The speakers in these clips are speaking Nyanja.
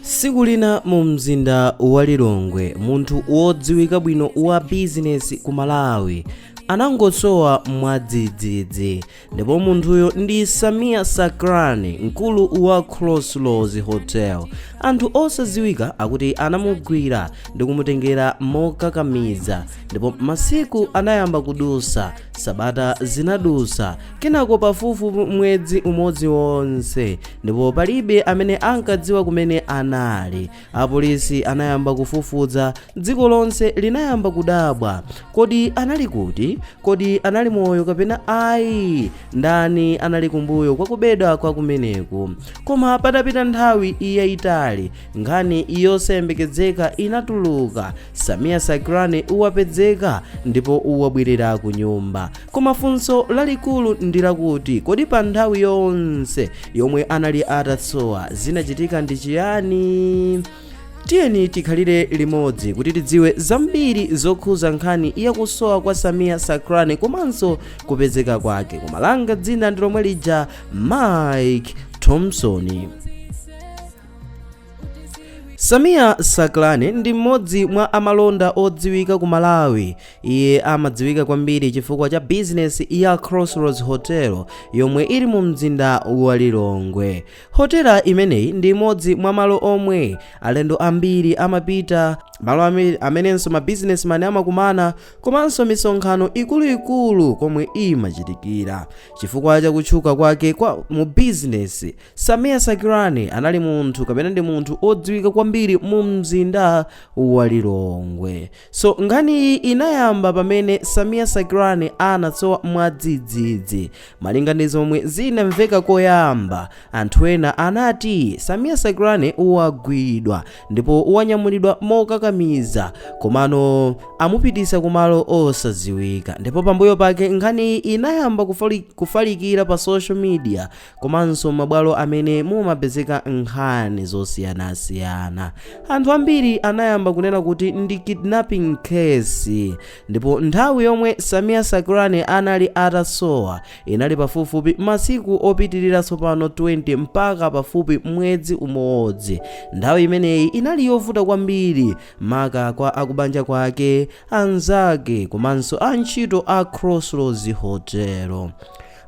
tsiku lina mu mzinda wa lilongwe munthu wodziwika bwino wa bizinesi ku malawi anangosowa mwadzidzidzi ndipo munthuyo ndi sameer sacranie mkulu wa crossroads hotel anthu osadziwika akuti anamugwira ndi kumutengera mokakamiza ndipo masiku anayamba kudusa sabata zinadusa kenako pafupifupi mwezi umodzi wonse ndipo palibe amene ankadziwa kumene anali apolisi anayamba kufufuza dziko lonse linayamba kudabwa kodi anali kuti kodi anali moyo kapena ayi ndani anali kumbuyo kwa kubedwa kwa kumeneku koma patapita nthawi yayitali nkhani yosayembekezeka inatuluka sameer sacranie wapezeka ndipo wabwerera ku nyumba koma funso lalikulu ndi lakuti kodi pa nthawi yonse yomwe anali atasowa zinachitika ndi chiyani tiyeni tikhalire limodzi kuti tidziwe zambiri zokhuza nkhani yakusowa kwa sameer sacranie komanso kupezeka kwake koma langa dzina ndi lomwe lija mike thompson Sameer Sacranie ndi mmodzi mwa amalonda odziwika ku Malawi. Iye amadziwika kwambiri chifukwa cha bizinesi ya Crossroads Hotel yomwe ili mu mzinda wa Lilongwe. Hotela imeneyi ndi imodzi mwa malo omwe alendo ambiri amapita, malo amenenso ma businessman amakumana komanso misonkhano ikuluikulu komwe imachitikira. Chifukwa cha kutchuka kwake kwa mu bizinesi, Sameer Sacranie anali munthu kapena ndi munthu odziwika kwambiri mu mzinda wa Lilongwe. So nkhaniyi inayamba pamene Sameer Sacranie anasowa mwadzidzidzi. Malinga ndi zomwe zinamveka koyamba, anthu ena anati Sameer Sacranie wagwidwa ndipo wanyamulidwa mokakamiza komano amupitisa kumalo osadziwika. Ndipo pambuyo pake nkhaniyi inayamba kufalikira pa social media komanso mabwalo amene mumapezeka nkhani zosiyanasiyana anthu ambiri anayamba kunena kuti ndi kidnapping case ndipo nthawi yomwe sameer sacranie anali atasowa inali pafupifupi masiku opitirira tsopano 20 mpaka pafupi mwezi umodzi nthawi imeneyi inali yovuta kwambiri maka kwa akubanja kwake anzake komanso antchito a crossroads hotel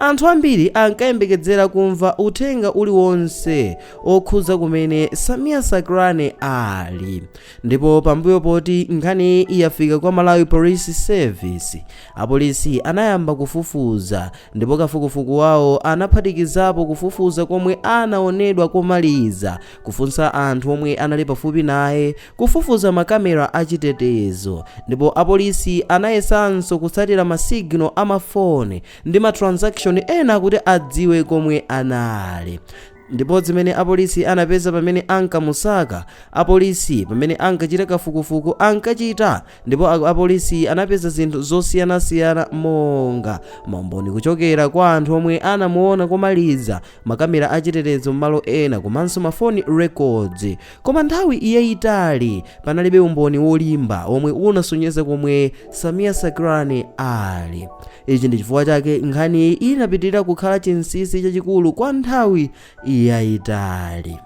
Anthu ambiri ankayembekedzera kumva uthenga uliwonse okhudza kumene Samia Sakrani ali. Ndipo pambuyo poti nkhaniyi yafika kwa Malawi Police Service, apolisi anayamba kufufuza ndipo kafukufuku wawo anaphatikizapo kufufuza komwe anaonedwa komaliza, kufunsa anthu omwe anali pafupi naye, kufufuza ma camera a chitetezo ndipo apolisi anayesanso kutsatira ma signal a ma phone ndi ma transaction ena kuti adziwe komwe anali ndipo zimene apolisi anapeza pamene ankamusaka apolisi pamene ankachita kafukufuku ankachita ndipo a- apolisi anapeza zinthu zosiyanasiyana monga maumboni kuchokera kwa anthu omwe anamuona komaliza makamera achitetezo m'malo ena komanso mafoni records Koma nthawi yaitali panalibe umboni wolimba omwe unasonyeza komwe Samia Sakrani ali. Ichi ndi chifukwa chake nkhaniyi inapitirira kukhala chinsinsi chachikulu kwa nthawi yaitali.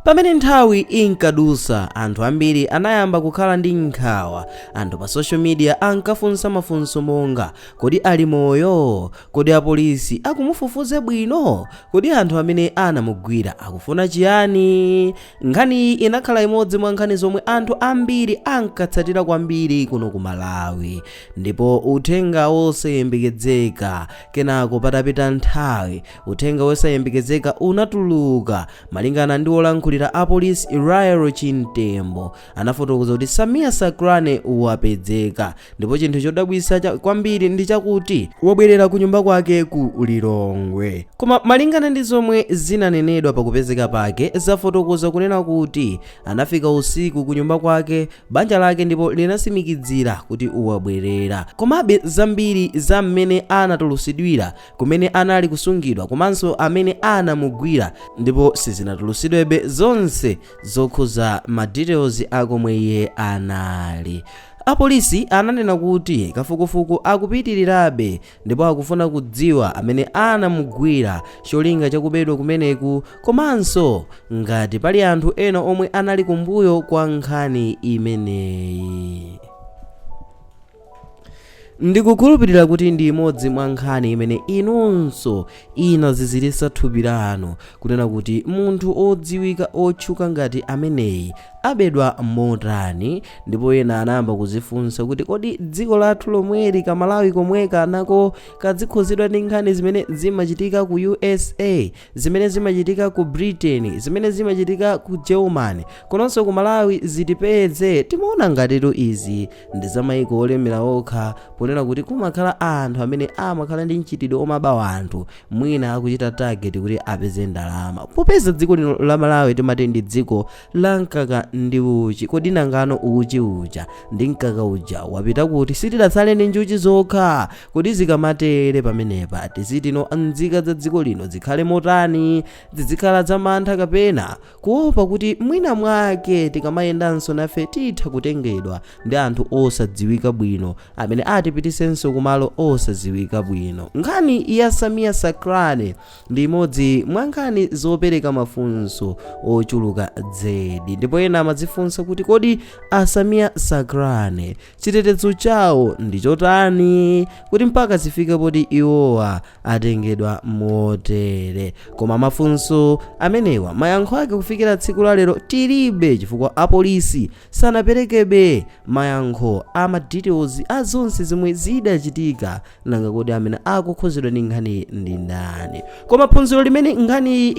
Pamene nthawi inkadusa, anthu ambiri anayamba kukhala ndi nkhawa. Anthu pa social media ankafunsa mafunso monga, Kodi ali moyo? Kodi apolisi akumufufuza bwino? Kodi anthu amene anamugwira akufuna chiyani? Nkhaniyi inakhala imodzi mwa nkhani zomwe anthu ambiri ankatsatira kwambiri kuno ku Malawi. Ndipo uthenga wosayembekezeka. Kenako patapita nthawi, uthenga wosayembekezeka unatuluka. Malingana ndi wolankhulira apolisi Lael Chimtembo, anafotokoza kuti Samia Sakrani wapedzeka ndipo chinthu chodabwisa kwambiri ndi chakuti wabwerera ku nyumba kwake ku Lilongwe. Koma malingana ndi zomwe zinanenedwa pa kupezeka pake zafotokoza kunena kuti anafika usiku ku nyumba kwake banja lake ndipo linasimikidzira kuti wabwerera. Komabe zambiri za mmene anatulusidwira kumene anali kusungidwa komanso amene anamugwira ndipo sizinatulusidwebe zonse zokhuza ma details a komwe iye anali apolisi ananena kuti kafukufuku akupitirirabe ndipo akufuna kudziwa amene anamugwira cholinga chakubedwa kumeneku komanso ngati pali anthu ena omwe anali kumbuyo kwa nkhani imeneyi ndikukhulupirira kuti ndi imodzi mwa nkhani imene inunso inazizirisa thupi lanu kunena kuti munthu odziwika otchuka ngati ameneyi abedwa motani ndipo ena anayamba kuzifunsa kuti kodi dziko lathu lomweli ka Malawi komweka nako kadzikhuzidwa ndi nkhani zimene zimachitika ku USA zimene zimachitika ku britain zimene zimachitika ku germany komanso ku malawi zitipeze timaona ngatitu izi ndi za maiko olemera okha ponena kuti kumakhala anthu amene amakhala ndi mchitidwe omaba anthu mwina akuchita target kuti apeze ndalama popeza dziko lino la malawi timati ndi dziko la mkaka ndi uchi kodi nangano uchi uja ndi mkaka uja wapita kuti sitidatsale ndi njuchi zokha kodi zikamatere pamenepa tizitino nzika za dziko lino zikhale motani zidzikhala za mantha kapena kuopa kuti mwina mwake tikamayendanso nafe titha kutengedwa ndi anthu osadziwika bwino amene atipitisenso kumalo osadziwika bwino nkhani ya samia sakrani ndi imodzi mwa nkhani zopereka mafunso ochuluka zedi ndipo ena amadzifunsa kuti kodi a samia sakrani chitetezo chawo ndi chotani kuti mpaka zifike poti iwowa atengedwa motere koma mafunso amenewa mayankho ake kufikira tsiku la lero tilibe chifukwa apolisi sanaperekebe mayankho a ma details a zonse zomwe zidachitika nanga kodi amene akukhuzidwa ndi nkhaniyi ndi ndani koma phunziro limene nkhaniyi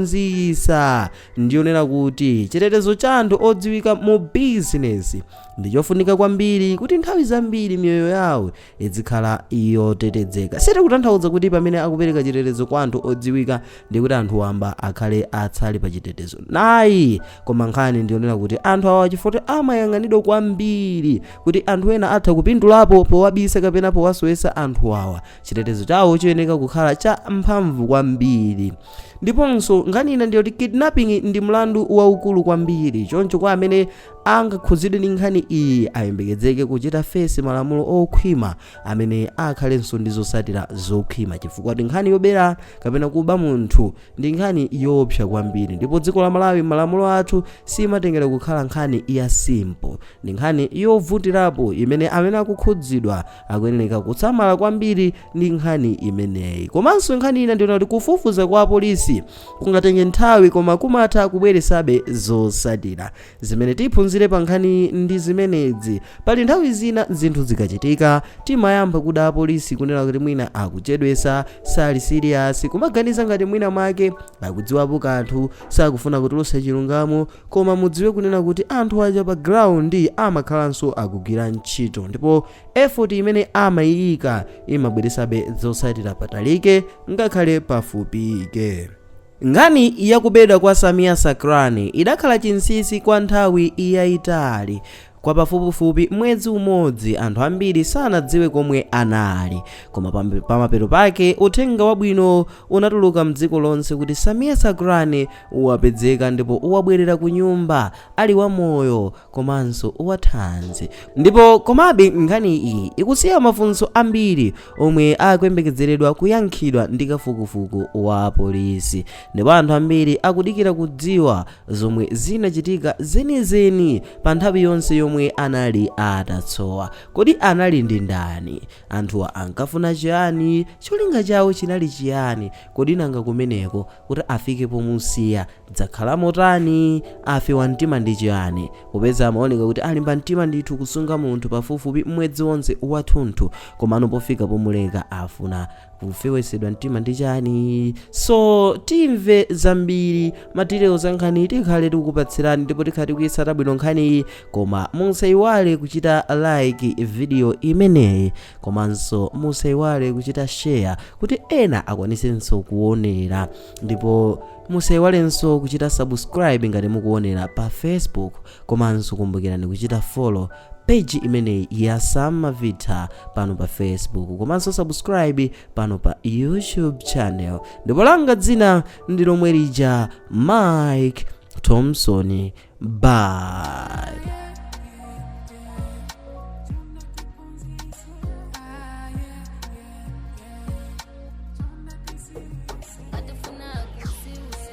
ikutiphunzitsa ndiyonena kuti chitetezo cha anthu odziwika mu business ndi chofunika kwambiri kuti nthawi zambiri miyoyo yawo izikhala yotetezeka. Sitikutanthauza kuti pamene akupereka chitetezo kwa anthu odziwika ndiye kuti anthu wamba akhale otsalira pa chitetezo ayi. Koma nkhani ndiyonena kuti anthu awa chifukwa choti amayang'anidwa kwambiri kuti anthu ena atha kupindulapo powabisa kapena powasowetsa anthu awa, chitetezo chawo chiyeneka kukhala cha mphamvu kwambiri. Ndiponso nkhani ina ndiyoti kidnapping ndi mlandu waukulu kwambiri choncho kwa amene angakhudzidwe ndi nkhani iyi ayembekedzeke kuchita face malamulo okhwima amene akhalenso ndi zotsatira zokhwima chifukwa choti nkhani yobera kapena kuba munthu ndi nkhani yoopsa kwambiri ndipo dziko la malawi malamulo athu samatengera kukhala nkhani ya simple ndi nkhani yovutirapo imene amene akukhudzidwa akuyenereka kusamala kwambiri ndi nkhani imeneyi komanso nkhani ina ndiyonena kuti kufufuza kwa apolisi kungatenge nthawi koma kumatha kubweresabe zosatira zimene tiphunzire pa nkhani ndi zimenezi pali nthawi zina zinthu zikachitika timayamba kuda apolisi kunena kuti mwina akuchedwesa sali serious kumaganiza ngati mwina mwake akudziwapo kanthu sakufuna kutulusa chilungamo Koma mudziwe kunena kuti anthu aja pa ground amakhalanso akugwira ntchito ndipo effort imene amaiyika imabweresabe zotsatira patalike ngakhale pafupike. Nkhani ya kubedwa kwa Samia Sakrani idakhala chinsinsi kwa nthawi yayitali Kwa pafupifupi mwezi umodzi, anthu ambiri sanadziwe komwe anali. Koma pam- pamapeto pake, uthenga wabwino unatuluka m'dziko lonse kuti Samia Sacranie wapezeka ndipo wabwerera ku nyumba ali wamoyo komanso wathanzi. Ndipo komabe nkhani iyi ikusiya mafunso ambiri omwe akuyembekezeredwa kuyankhidwa ndi kafukufuku wa polisi. Ndipo anthu ambiri akudikira kudziwa zomwe zinachitika zenizeni pa nthawi yonse yomwe anali atasowa. Kodi anali ndi ndani? Anthuwa ankafuna chiyani? Cholinga chawo chinali chiyani? Kodi nanga kumeneko kuti afike pomusiya zakhala motani? Afewa mtima ndi chiyani? Popeza amaoneka kuti alimba mtima ndithu kusunga munthu pafupifupi mwezi wonse wathunthu, komano pofika pomuleka afuna Kufewetsedwa mtima ndi chani? So timve zambiri ma details za nkhaniyi tikhale tikukupatsirani ndipo tikhale tikuyitsata bwino nkhaniyi koma musaiwale kuchita like video imeneyi komanso musaiwale kuchita share kuti ena akwanisenso kuonera ndipo musaiwalenso kuchita subscribe ngati mukuonera pa facebook komanso kumbukirani kuchita follow page imeneyi ya samavitha pano pa facebook komanso subscribe pano pa youtube channel ndipo langa dzina ndi lomwe lija mike thompson bye